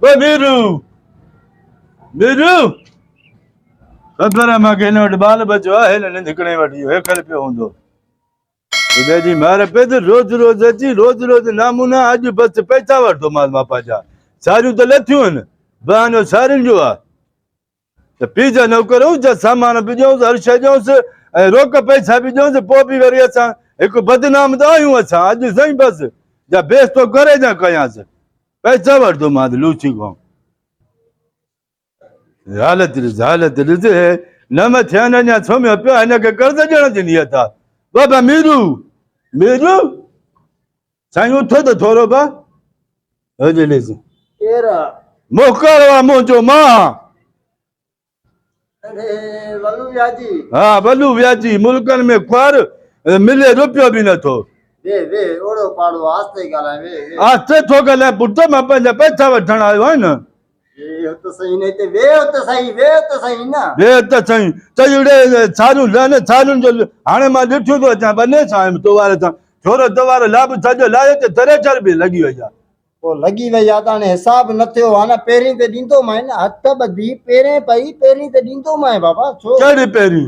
ميرو ميرو خبر آهي مانکي هن وٽ ٻال ٻچو آهي نه ننڊ ڪنهن وٽ اهو هيڪل پيو هوندو خدا جي مار پئي ته روز روز اچي روز روز نامونا اڄ بس پئسا وٺتومانس مان پنهنجا ساريون ته لٿيون آهن بهانو سارين جو آهي ته پيء جا نوڪر هئس، جا سامان به ڏيئونس، هر شيء ڏيئونس ۽ روڪ پئسا به ڏيئونس، پوء به وري اسان هڪ بدنام ته آهيون اسان، اڄ سائين بس، جا بيستو ڪري جا ڪيانس، پئسا وٺندومانس لوچي کان. حالت ڏس، حالت ڏس، هي نه مٿي آهن، اڃا سمهيو پيو آهي، هن کي قرض ڏيڻ جي نيت آهي. بابا ميرو، ميرو! سائين اٿو ته ٿورو به هجي ليس ڪير آ موڪر وا منهنجو مان اري ولو وياجي ها ولو وياجي ملڪن ۾ خوار ملي روپيو به نه ٿو وي وي اوڙو پاڙو آستي ڳالهائي وي وي آستي ٿو ڳالهائي پٽ مان پنهنجا پئسا وٺڻ آيو آهي نه ويهه ته سهين نه هتي ويهه ته سهين ويهه ته سهين نه ويهه ته سهين چئي اڙي ڇاريون لهن ڇاريون جو هاڻي مان ڏٺيون ٿو اچان ٻنهي سائين تو واري سان ڇورو تو وارو لاب سڄو لاهي ته تري چر به لڳي وئي آ پوء لڳي وئي آ ته هاڻي حساب نه ٿيو آ نه پهرين ته ڏيندومانء نه هٿ ٻڌي پهرين پئي پهرين ته ڏيندومانء بابا ڇو ڪهڙي پهرين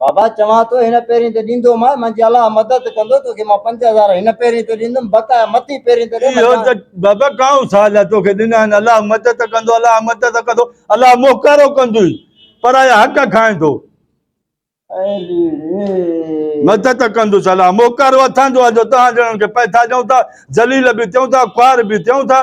بابا چوان ٿو هن پيرين تي ڏيندو مان منهنجي الله مدد ڪندو توکي مان پنج هزار هن پيرين تي ڏيندم بقايا مٿين پيرين تي ڏي مان اهو ته جان بابا ڪائون سال آهي توکي ڏنا آهن الله مدد ڪندو الله مدد ڪندو الله موڪارو ڪندوئي پرايا حق کائيندو اي ليڙي مدد ڪندوس الله موڪارو اٿاندو آهي جو توهان جهڙن کي پئٿا ڏيون ٿا ذليل به ٿيون ٿا خوار به ٿيون ٿا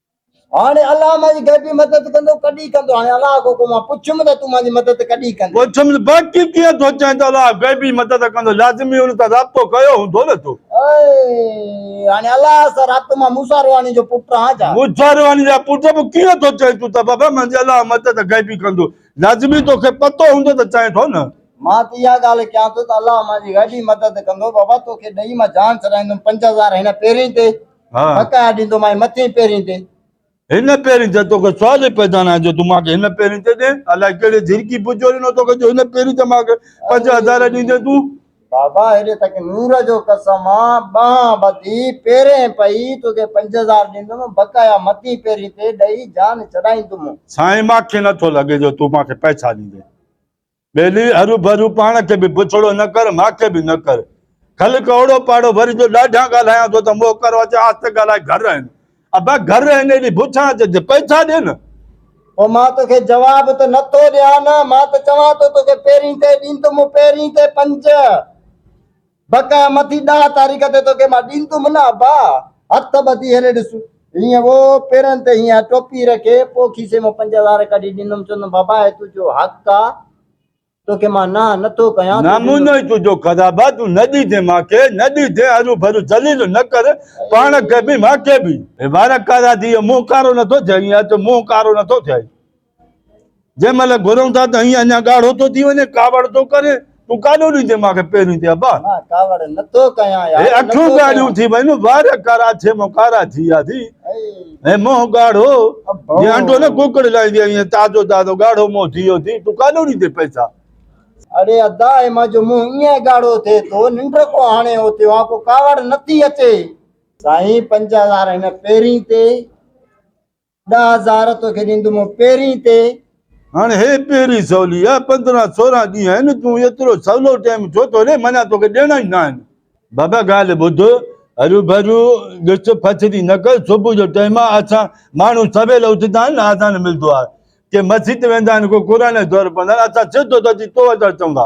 هاڻي الله مانجي غيبي مدد ڪندو، ڪڏهن ڪندو؟ هاڻي الله کان مان پڇيم ته تون مانجي مدد ڪڏهن ڪندين؟ پڇيم باقي ڪيئن ٿو چئين ته الله غيبي مدد ڪندو، لازمي ان سان رابطو ڪيو هوندو نه تو؟ هاڻي الله سان رابطو مان موسيٰ روحاني جو پٽ آهيان ڇا؟ موسيٰ روحاني جا پٽ به ڪيئن ٿو چئين تون ته بابا مانجي الله مدد غيبي ڪندو، لازمي توکي پتو هوندو ته چئين ٿو نه؟ مان ته اها ڳالهه ڪيان ٿو ته الله مانجي غيبي مدد ڪندو، بابا توکي ڏهي مان جان ڇڏائيندم پنج هزار هن پيرين تي، ڀڪاء ڏيندومانء مٿين پيرين تي. هن پيرين تي توکي سوال ئي پيدا ناهي جو تون مان کي هن پيرين تي ڏين. الائي ڪهڙي جهرڪي پچو ڏنو توکي جو هن پيرين تي مان کي پنج هزار ڏيندين تون. بابا هيڏي تک نور جو قسم آ، ٻانهن ٻڌي پيرين پئي توکي پنج هزار ڏيندوم بقايا مٿين پيرين تي ڏئي جان ڇڏائيندوم. سائين مان کي نٿو لڳي جو تون مان کي پئسا ڏيندين. ٻيلي، هروڀرو پاڻ کي به بڇڙو نه ڪر، مان کي به نه ڪر. کل ڪهوڙو پاڙو وري جو ڏاڍيان ڳالهايان ٿو ته موهه ڪرو اچي آهستي ڳالهائي گهر رهين. ابا گهر رهين ايڏي بڇان اچي ته پئسا ڏي نه. او مان توکي جواب ته نه ٿو ڏيان نه، مان ته چوان ٿو توکي پهرين ڪئي ڏيندم، پهرين ڪئي پنج. بقا مٿي ڏاھ تاريخ تي توکي مان ڏين تون منا با ھٿ ٻڌي ھيڏي ڏس ھيئن وو پيرن تي ھيئن ٽوپي رکي پو کيسي مان پنج ھزار ڪڍي ڏيندم چوندم بابا ھي تنھنجو حق آ توکي مان ناھ نٿو ڪيان تون ڏيندو نمونو ئي تنھنجو خراب آ تون نه ڏيجين مانکي نه ڏيجين ھرو ڀرو ذليل نه ڪر پاڻ کي به مانکي به ھي وارا ڪارا ٿي ويا منھن ڪارو نٿو ٿئي ھيئن اچ منھن ڪارو نٿو ٿئي. جنهن مهل گهرون ٿا ته هيئن اڃا ڳاڙهو ٿو ٿي وڃي، ڪاوڙ ٿو ڪرين، تون ڪاڏو ڏيندين مان کي پهرين تي ابا؟ مان ڪاوڙ نه ٿو ڪيان يار. هي اکيون ڳاڙهيون ٿي ويون، وار ڪاراڇي مون ڪارا ٿي ويا ٿي، هي منهن ڳاڙهو، جيئن انڊو نه ڪوڪڙ لائيندي آهي ايئن تازو تازو ڳاڙهو منهن ٿي ويو ٿي، تون ڪاڏو ڏيندين پئسا؟ اڙي ادا هي مان جو منهن ايئن ڳاڙهو ٿئي ٿو، ننڊ ڪو هاڻي اوتيون آن ڪو ڪاوڙ نه ٿي اچي. سائين پنج هزار هن پهرين تي. ڏهه هزار توکي ڏيندومون پيرين تي. هاڻ هي پيرين سولي آ، پندرهن سورهن ڏينهن آهن، تون ايترو سولو ٽيم ڇو ٿو ڏين، معنيٰ توکي ڏيڻا ئي ناهن. بابا ڳالهه ٻڌ، هروڀرو ڏس، ڦٿري نه ڪر، صبح جو ٽيم آ، اسان ماڻهو سويل اٿندا آهن، آذان ملندو آهي، ڪي مسجد ويندا آهن، ڪو قرآن جي دور پڙهندا آهن، اسان سڌو ته اچي تو وٽ اچون ٿا.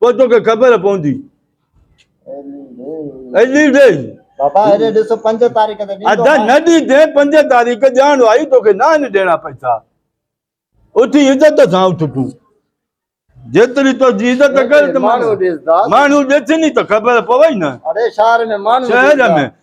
پوء توکي خبر پوندي. ايلي ڏي. بابا ايلي ڏس پنج تاريخ تي ڏيندو. ادا نه ڏيندين پنج تاريخ ڄاڻ آئي توکي ناهن ڏيڻا پئسا. اٿي عزت سان اٿ تون. جيتري تنهنجي عزت ڪر ته ماڻهو ڏسدا. ماڻهو ڏسين ئي ته خبر پوي نه. اڙي شهر ۾ ماڻهو ڏسدا. شهر ۾.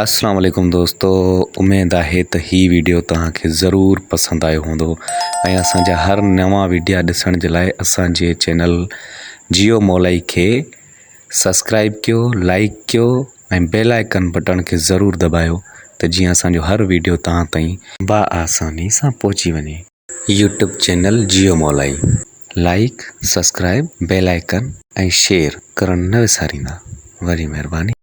اسلام عليڪم دوستو اميد آهي ته هي ويڊيو توهان کي ضرور پسند آيو هوندو ۽ اسان جا هر نوان ويڊيا ڏسڻ جي لاء اسان جي چينل جيو مولائي کي سبسڪرائب ڪيو لائڪ ڪيو ۽ بيل آئڪن بٽڻ کي ضرور دٻايو ته جيئن اسان جو هر ويڊيو توهان تائين با آساني سان پهچي وڃي يوٽيوب چينل جيو مولائي like subscribe bell icon ۽ share ڪرڻ نه وساريندا وڏي مهرباني.